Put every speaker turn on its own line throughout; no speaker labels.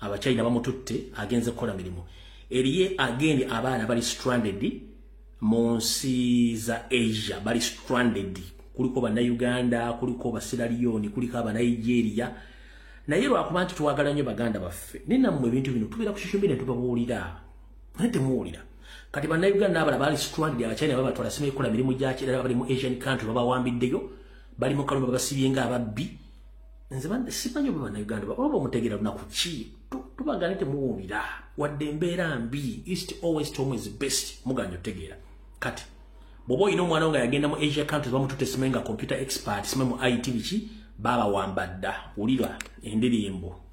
abachina bamututte agenze kukola mirimu eriye agende abaana bali stranded mu nsi za asia bali stranded kuliko bannayuganda kuliko basiraliyoni kuliko abanigeria naye lwakuba nti twagala nnyo baganda baffe ninamwe ebintu bino tubeera ku social media tubabuulira naye temuwulira kati bannayuganda abala bali stranded abachina babatwala sima ekola mirimu gyakirala bali mu asian country babawambiddeyo bali mu kaluma babasibye nga ababbi nze simanyi oba banauganda oba bamutegeera lunaku ki tubaga ne temuwulira wadde embeera mbi east always tom is best muganya otegeera kati bwoba olina omwana wo nga yagenda mu asia countries bamutute simanyi nga computer expert simanyi mu it biki baabawambadda wulira endirimbo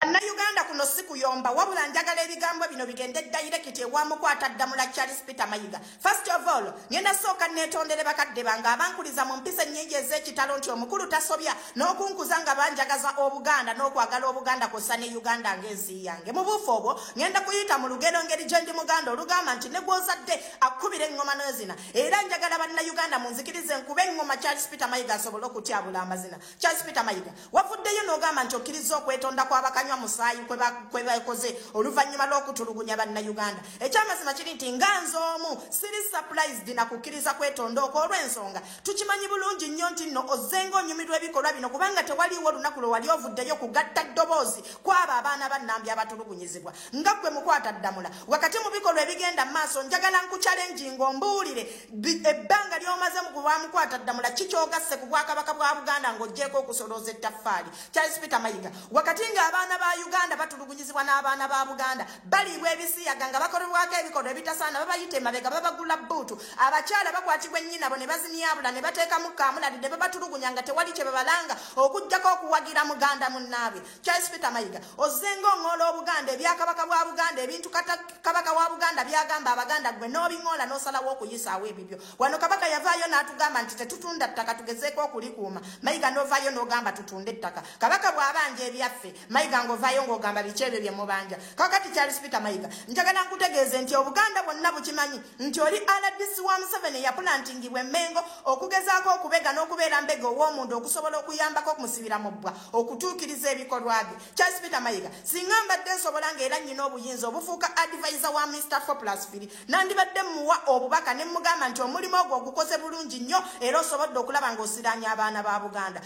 Bannayuganda kuno si kuyomba wabula njagala ebigambo bino bigende dayirekiti ewa mukwata ddamula Charles Peter Mayiga. First of all, ngenda sooka neetondere bakadde bange abankuliza mu mpisa ennyingi ez'ekitalo nti omukulu tasobya n'okunkuza nga banjagaza Obuganda n'okwagala Obuganda kw'ossa ne Uganda ng'ensi yange. Mu buufu obwo, ngenda kuyita mu lugero ngeri gye ndi Muganda olugamba nti ne gw'ozadde akkubira eŋŋoma n'ezina. Era njagala Bannayuganda munzikirize nkube eŋŋoma Charles Peter Mayiga asobole okutyabula amazina. Charles Peter Mayiga wavuddeyo n'ogamba nti okkirizza okwetonda kw'abakanywa musaayi kwe bakoze oluvannyuma lw'okutulugunya bannayuganda ekyamazima kiri nti nga nze omu siri surprised na kukkiriza kwetonda okwo olw'ensonga tukimanyi bulungi nnyo nti nno ozzenga onyumirwa ebikolwa bino kubanga tewaliiwo olunaku lwe wali ovuddeyo kugatta ddoboozi kw'abo abaana ba nnambi abatulugunyizibwa nga ggwe mukwata ddamula wakati mu bikolwa ebigenda mu maaso njagala nkukyalenjinga ombuulire ebbanga lyomaze mu kulwamukwata ddamula kikyogasse ku bwakabaka bwa buganda ng'ogyeko okusolooza ettaffaali charles peter mayiga wakati ng'abaana ba uganda batulugunyizibwa n'abaana ba buganda baliibwa ebisiyaga nga bakolebwako ebikolwa ebitasaana babayita emabega babagula bbuutu abakyala bakwatibwa ennyinabo ne bazimyabula ne bateekamu kaamulali ne babatulugunya nga tewali kye babalanga okugyako okuwagira muganda munnaabwe Charles Peter Mayiga ozenga ong'ola Obuganda ebyakabaka bwa Buganda ebintu kabaka wa Buganda byagamba Abaganda gwe n'obing'ola n'osalawo okuyisaawo ebibyo wano kabaka yavaayo n'atugamba nti tetutunda ttaka tugezeeko okulikuuma Mayiga n'ovaayo n'ogamba tutunde ettaka kabaka bw'abanja ebyaffe Mayiga ng'ovaayo ng'ogamba biki ebyo bye mubanja kakati Charles Peter Mayiga njagala nkutegeeze nti Obuganda bwonna bukimanyi nti oli RDC wa Museveni eyapulantingibwa emmengo okugezaako okubega n'okubeera mbega ow'omuntu okusobola okuyambako okumusibira mu bbwa okutuukiriza ebikolwa bye charles peter mayiga singa mbadde nsobola ngaera nnyina obuyinza obufuuka advisa wa mr foplasfiri nandibadde muwa obubaka ne mugamba nti omulimu ogwo ogukoze bulungi nnyo era osobodde okulaba ng'osiraanya abaana ba buganda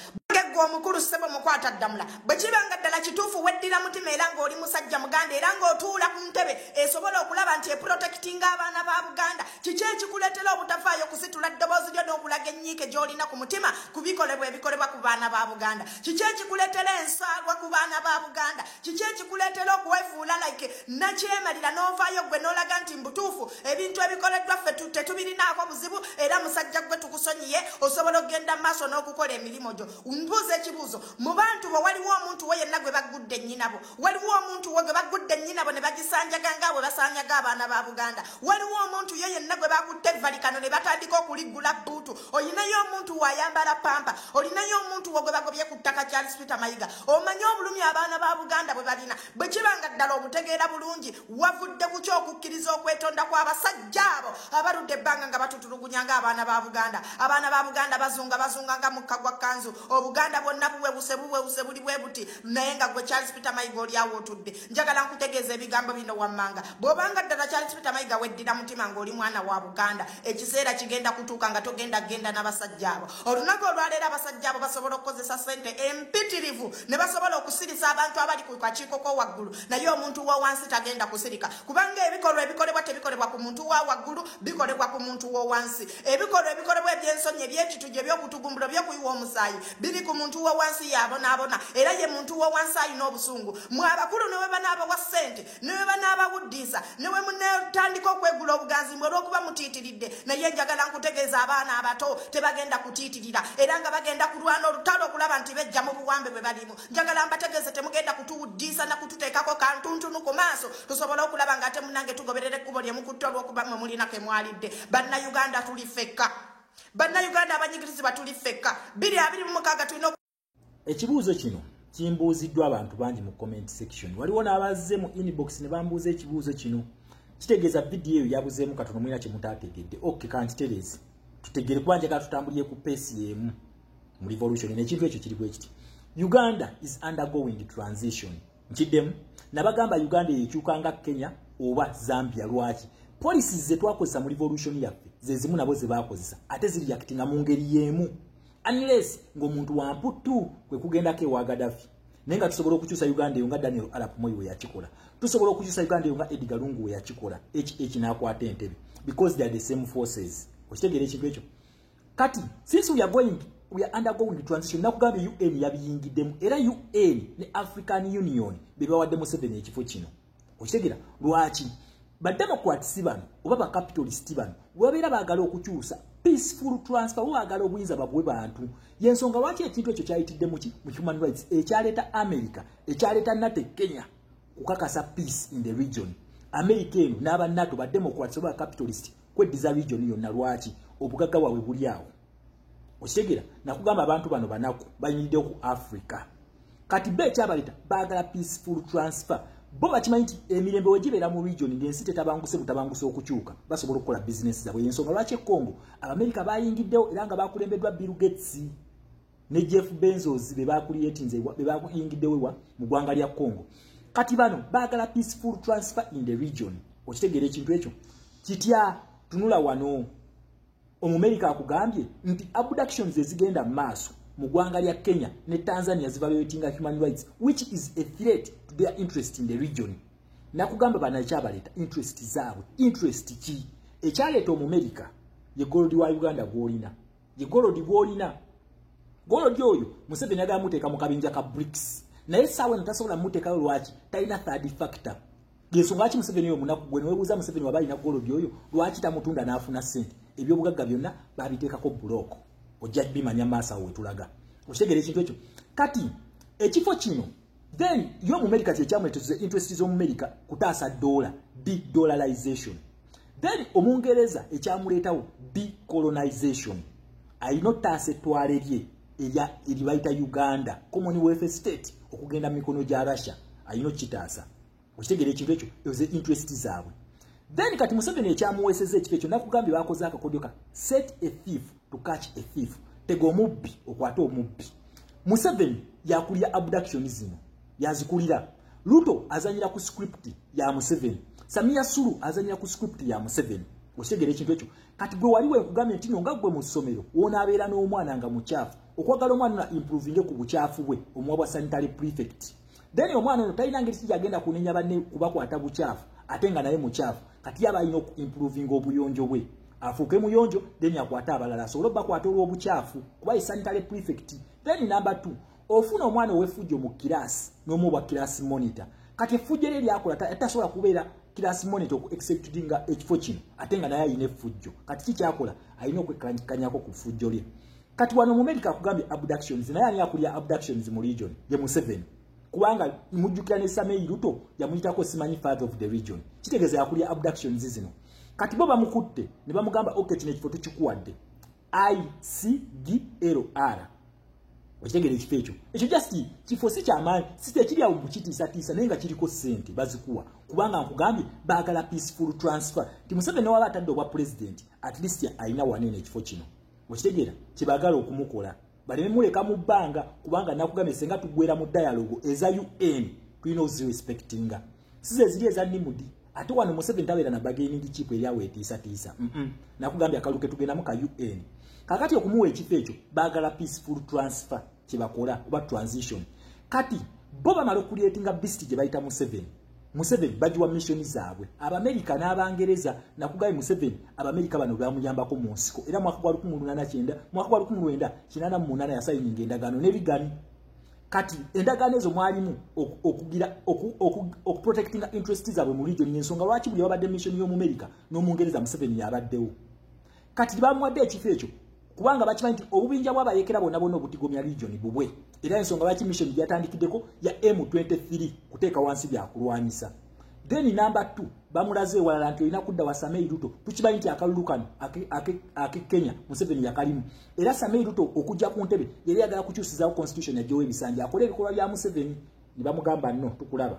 gwe omukulu ssebo mukwata ddamula bwe kiba nga ddala kituufu weddira mutima era ng'oli musajja muganda era ng'otuula ku ntebe esobola okulaba nti eprotekitinga abaana ba buganda kiki ekikuleetera obutafaayo kusitula ddoboozi lyo n'okulaga ennyiike gy'olina ku mutima ku bikolebwa ebikolebwa ku baana ba buganda kiki ekikuleetera ensaalwa ku baana ba buganda kiki ekikuleetera okuwefuula like nakyemalira n'ovaayo ggwe n'olaga nti mbutuufu ebintu ebikoleddwa ffe tetubirinaako buzibu era musajja ggwe tukusonyiye osobola okugenda mu maaso n'okukola emirimu gyo mbuuza ekibuuzo mu bantu bwe waliwo omuntu we yenna gwe baggudde ennyinabo waliwo omuntu wo gwe bagudde nnyinabo ne bagisanjaga nga bwe basanyaga abaana ba buganda waliwo omuntu yo yenna gwe bakutte evalikano ne batandika okuliggula bbuutu olinayo omuntu waayambala pampa olinayo omuntu wo gwe bagobye ku ttaka charles peter mayiga omanye obulumi abaana ba buganda bwe balina bwe kiba nga ddala obutegeera bulungi wavudde ku ky okukkiriza okwetonda kw'abasajja abo abaludde ebbanga nga batutulugunya nga abaana ba buganda abaana ba buganda bazunga bazunga nga mukka gwa kanzu obuganda bwonna buwewuse buwewuse buli bwe buti naye nga gwe charles peter mayiga oli awo otudde njagala nkutegeeza ebigambo bino wammanga bw'obanga ddala charles peter mayiga weddira mutima ng'oli mwana wa buganda ekiseera kigenda kutuuka nga togenda kugenda n'abasajja abo olunaku olwaleero abasajja abo basobola okukozesa sente empitirivu ne basobola okusirisa abantu abali ku kakiiko ko waggulu naye omuntu wa wansi tagenda kusirika kubanga ebikolwa ebikolebwa tebikolebwa ku muntu wa waggulu bikolebwa ku muntu wo wansi ebikolwa ebikolebwa ebyensonyi ebyekitujju eby'okutugumbula by'okuyiwa omusaayi biri ku muntu wowansi yabonaabona era ye muntu wowansi alina obusungu mwe abakulu newe banaabawa ssente newe banaabawuddiisa newe munetandika okwegula obuganzi mwe olwokuba mutiitiridde naye njagala nkutegeeza abaana abato tebagenda kutiitirira era nga bagenda kulwana olutalo okulaba nti bejja mu buwambe bwe balimu njagala mbategeeze temugenda kutuwuddiisa na kututeekako kantuntunu ku maaso tusobole okulaba nga ate munange tugoberera ekkubo lyemukutte olwokuba mwe mulina kemwalidde bannayuganda tuli fekka bannayuganda abanyigirizibwa tuli ffekka biri abiri mu mukaaga tulina ekibuuzo
kino kimbuuziddwa abantu bangi mu comment section waliwo n'abazze mu inbox ne bambuuza ekibuuzo kino kitegeeza vidiyo eyo yabuzeemu katono mulina kye mutaategedde ok kankitereezi tutegere kuba njagala tutambulire ku peesi y'emu mu revolution nekintu ekyo kiri bwekiti uganda is undergoing transition nkiddemu nabagamba uganda eyekyuka nga kenya oba zambia lwaki polisi zetwakozesa mu revolution yaffe zezimu nabo zebakozesa ate ziriyakitinga mu ngeri yemu unless ngaomuntu wamputtu kwe kugendako ewa gadafi naye nga tusobola okukyusa uganda eyo nga daniel arap moyi weyakikola tusobola okukyusa uganda eyo nga ediga lungu weyakikola ekinakwata entebe because theyare the same forces okitegeera ekintu ekyo kati since we are going we are undergoing transition nakugambye un yabiyingiddemu era un ne african union bebawadde museveni ekifo kino okitegera lwaki bademocrats bano oba bacapitalist bano webabeera baagala okukyusa peaceful transfer wagala obuyinza babwe bantu yensonga lwaki ekintu ekyo kyayitidde muki mu human rights ekyaleeta america ekyaleeta nate kenya kukakasa peace in the region america eno n'aba nato bademocrats oba bacapitalist kweddiza region yonna lwaki obugagga bwabwe buli awo okitegera nakugamba abantu bano banaku bayimiriddewo ku africa kati be ekyabaleta baagala peaceful transfer bo bakimanyi nti emirembe wegibeera mu region ngaensi tetabanguse butabanguse okukyuka basobola okukola bizinesi zabwe yensonga lwaki ekongo abamerika bayingiddewo era nga bakulembeddwa bill gates ne Jeff Bezos be bakuliyetinze be bakuyingiddewo wa mu gwanga lya Congo kati bano bagala peaceful transfer in the region okitegeera ekintu ekyo kitya tunula wano omumerika akugambye nti abductions ezigenda mu maaso mu gwanga lya Kenya ne Tanzania zivaluatinga human rights which is a threat to their interest in the region nakugamba banakyabaleta interest zaabwe interest ki ekyaleeta omumerika ye gold wa Uganda gwolina ye golodi gwolina golodi oyo museveni agala muteeka mu kabinja ka brics naye saawa eno tasobola muteekayo lwaki talina third factor yensonga ki museveni oyo munaku gwe newebuuza museveni waba alina golodi oyo lwaki tamutunda n'afuna sente ebyobugagga byonna babiteekako bulooko ojja bimanya maaso awo wetulaga okitegera ekintu ekyo kati ekifo kino then yo mumerica kyekyamuletetuza interest z'omumerica kutaasa dola dedollarization then omungereza ekyamuleetawo decolonization alina otaasa ettwale lye eribayita uganda common wealth state okugenda mu mikono gya russia alina okukitaasa okitegera ekintu ekyo eze interest zaabwe then kati museveni ekyamuweeseza ekifo ekyo nakugambye bakoze akakodyo ka set a thief to catch a thief tega omubbi okwate omubbi museveni yakulira abduction zino yazikulira luto azanyira ku script ya museveni samia sulu azanyira ku script ya museveni okitegera ekintu ekyo kati gwe wali wekugambye nti no nga gwe mu ssomero wonaabeera n'omwana nga mukyafu okwagala omwana na improvinge ku bukyafu bwe omuwa bwa sanitary prefect then omwana ono talina ngeri kija agenda kunenya banne kubakwata bukyafu ate nga naye mukyafu kati yaba alina okuimprovinga obuyonjo bwe afuuke muyonjo then akwate abalala asobole obakwata olw'obukyafu kuba ye sanitary prefect then number two ofuna omwana owefujjo mu kiraasi nomuwa kiraasi monitor kati efujjo lye lyakola tasobola kubeera kiraasi monitor oku exceptinga ekifo kino ate nga naye alina efujjo kati ki kyakola alina okwekanyako ku fujjo lye kati wano mumerica akugambye abductions naye ani akulya abductions mu region ye museveni kubanga mujjukira ne samei luto yamuyitako simanyi father of the region kitegeeza yakulya abductions zino kati bo bamukutte ne bamugamba ok kino ekifo tukikuwadde icglr okitegera ekifo ekyo ekyo just kifo si kyamaanyi sitekiri awo mukitiisatiisa naye nga kiriko ssente bazikuwa kubanga nkugambye baagala peaceful transfer ti museveni waba atadde obwa pulezidenti at least alina wanene ekifo kino okitegeera kyebaagala okumukola baleme muleka mu bbanga kubanga nakugambye senga tugwera mu dialogo eza un tulina ozirespectinga size eziri eza nimudi ate wano museveni tabeera na bageningi kipu eryawo etiisatiisa mm -mm. nakugambye akalu ketugendamu ka un kakati okumuwa ekifo ekyo baagala peaceful transfer kyebakola oba transition kati bo bamala okukulyetinga bisiti gye bayita museveni Museveni bagiwa missioni zaabwe abamerika n'abangereza nakugaye Museveni abamerika bano bamuyambako mu nsiko era mwaka gwa lukumi lunana kyenda mwaka gwa lukumi lwenda kinana mu munana yasayininga endagaano n'ebigani kati endagaano ezo mwalimu okugira okuprotectinga interest zaabwe mu region y'ensonga lwaki buli babadde missioni y'omumerika n'omungereza Museveni yabaddewo kati tebamuwadde ekifo ekyo kubanga bakimanyi nti obubinja bwabayekera bonna bonna obutigomya region bubwe era ensonga lwaki mission gyatandikiddeko ya m23 kuteeka wansi byakulwanyisa then number t bamulaze ewalala nti olina kudda wa samei ruto tukimanyi nti akalulu kano ake kenya museveni yakalimu era samei ruto okujja ku ntebe yali yagala kukyusizaawo constitution yajowa ebisanja akola ebikolwa bya museveni ne bamugamba no tukulaba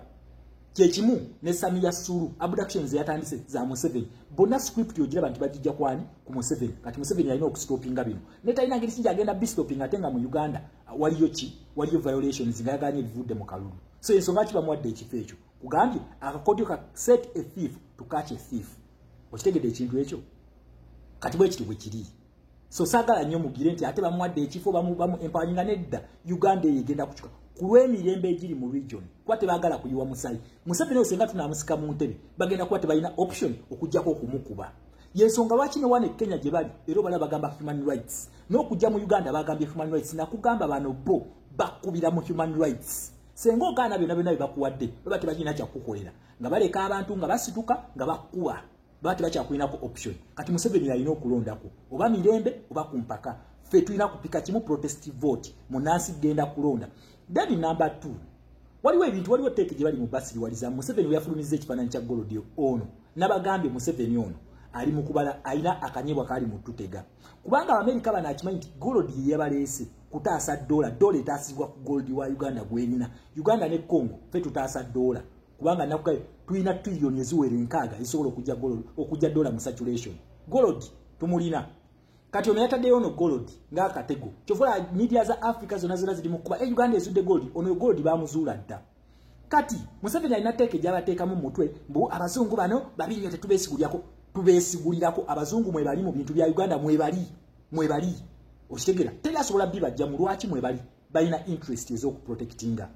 kyekimu ne samiya sulu abductions yatandise za museven bona script yogira bantu bajijja kwani ku museven kati museven yalina okustopinga bino ne talina ngeri kinja agenda bistoping ate nga mu uganda waliyo ki waliyo violations nga yaganye bivudde mu kalulu so ensonga ki bamuwadde ekifo ekyo kugambye akakodyo ka set a thief to catch a thief okitegedde ekintu ekyo kati bwekityo bwekiri so sagala nyo mugire nti ate bamuwadde ekifo bamu bamu empoweringa nedda uganda eyo egenda kucuka ku lw'emirembe egiri mu region kuba tebagala kuyiwa musayi museveni oyo senga tunamusika mu ntebe bagenda kuba tebalina option okujjako okumukuba yensonga lwaki ne wane kenya gye bali era obala bagamba human rights n'okujja mu uganda bagambye human rights nakugamba bano bo bakubira mu human rights senga ogaana byona byona byebakuwadde baba tebakirina kyakukukolera nga baleka abantu nga basituka nga bakuwa baba tebakyakulinako option kati museveni yalina okulondako oba mirembe oba ku mpaka ffe tulina kupika kimu protest vote munansi genda kulonda then number t waliwo ebintu waliwo teeke gye bali mu basiriwaliza museveni weyafulumizza ekifaananyi kya golodi ono nabagambye museveni ono ali mukubala alina akanyebwa kali mu tutega kubanga abamerika bano akimanyi nti golodi ye yabaleese kutaasa dola dola etaasibwa ku goldi wa uganda gwelina uganda ne congo fe tutaasa dola kubanga nakuga tulina trillion eziwera enkaaga ezisobola okujja gold okujja dollar mu saturation gold tumulina kati ono yataddeyo ono gold ng'akatego kyovola media za africa zona zona ziri mukuba e eh, uganda ezudde gold ono gold bamuzuula dda kati museveni alina teeka egyabateekamu mu mutwe mbu abazungu bano babi nnyo tetubesigulirako tubesigulirako abazungu mwebali mu bintu bya uganda mwebali mwebali okitegera teri asobola bibajja mu lwaki mwebali balina interest ez'okuprotectinga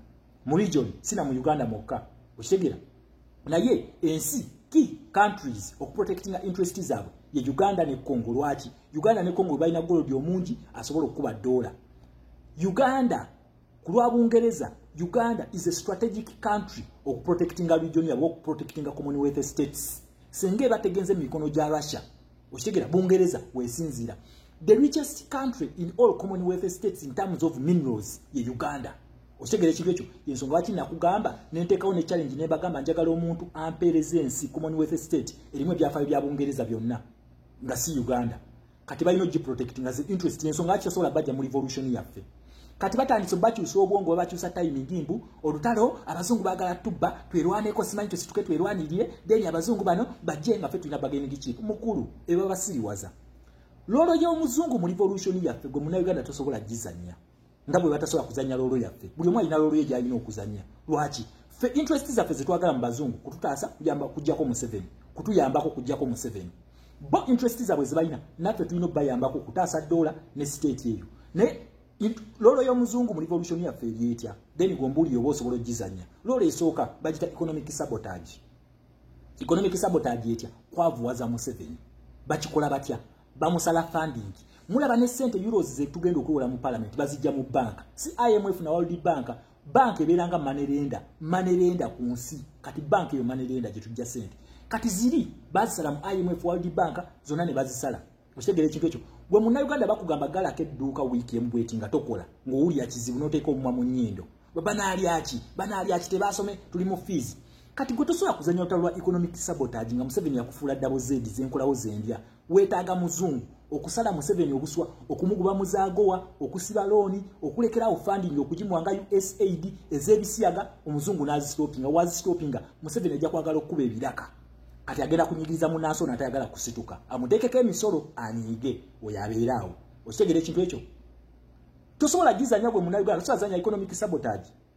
mu region si na mu uganda mwokka okitegera naye ensi key countries okuprotectinga interest zaabwe ye uganda ne congo lwaki uganda ne congo balina golodi omungi asobola okukuba doola uganda ku lwa bungereza uganda is a strategic country okuprotectinga region yabwe okuprotectinga commonwealth states singa ebategenze mu mikono gya russia okitegera bungereza wesinziira the richest country in all commonwealth states in terms of minerals ye uganda okitegera ekintu ekyo yensonga lwaki nakugamba nenteekawo ne challenge nebagamba njagala omuntu ampeereza ensi commonwealth state erimu ebyafaayo bya bungereza byonna nga si uganda kati balina ogiprotect nga interest yensonga lwaki tasobola bajja mu revolution yaffe yeah. kati batandise bakyusa obwongo babakyusa timing mbu olutalo abazungu bagala tubba twerwaneko simanyi kyosituke twerwanirire then abazungu bano bajje nga fe tulina bageningi chief mukulu eba basiriwaza lolo y'omuzungu mu revolution yaffe gwe muna uganda tosobola gizanya nga bwe batasobola kuzanya lolo yaffe buli omu alina lolo ye gyalina okuzanya lwaki fe interest zaffe zetwagala mu bazungu kututaasa kujamba kujjako museveni kutuyambako kujjako museveni bo interest zabwe zibalina naffe tulina okubayambako okutaasa doola ne state eyo naye loolo y'omuzungu mu revolution yaffe eri etya then gombuulire oba osobola okugizanya loolo esooka bagita economic sabotage economic sabotage etya kwavuwaza museveni bakikola batya bamusala funding mulaba ne sente euros zetugenda okuwola mu parliament bazijja mu banka si imf na world bank banka ebeera nga manerenda manerenda ku nsi kati banka eyo manerenda gye tujja sente kati ziri bazisala mu imf world bank zonna ne bazisala okitegera ekintu ekyo gwe munnauganda bakugamba galako edduuka wiiki emu bweti nga tokola ng'owulira kizibu n'oteeka omumwa mu nnyindo banaalyaki banaalyaki tebaasome tuli mu fiizi kati gwe tosobola kuzanya olutalo lwa economic sabotage nga museveni yakufuula dabo zedi zenkolawo zendya wetaaga muzungu okusala museveni obuswa okumuguba muzagowa okusiba looni okulekerawo funding okugimuwa nga usaid ez'ebisiyaga omuzungu n'azistopinga wazistopinga museveni ajja kwagala okukuba ebiraka kati agenda kunyigiriza munansi ono atayagala kusituka amuteekeko emisolo anyiige oyo abeera awo okitegera ekintu ekyo tosobola gizanya gwe munauganda tosobola zanya economic sabotage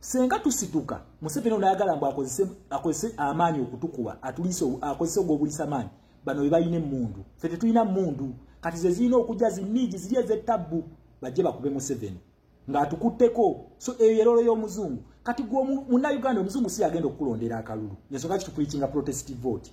senga tusituka museveni onayagala mbu akozese akozese amaanyi okutukuba atuliise akozese ogwobulisa maanyi bano bebalina emundu fe tetulina mundu kati zezirina okujja ziniigi ziri ezettabbu bajje bakube museveni ng'atukutteko so eyo yerolo y'omuzungu kati gwe munauganda omuzungu si agenda okukulondera akalulu nensonga kitupulikinga protest vote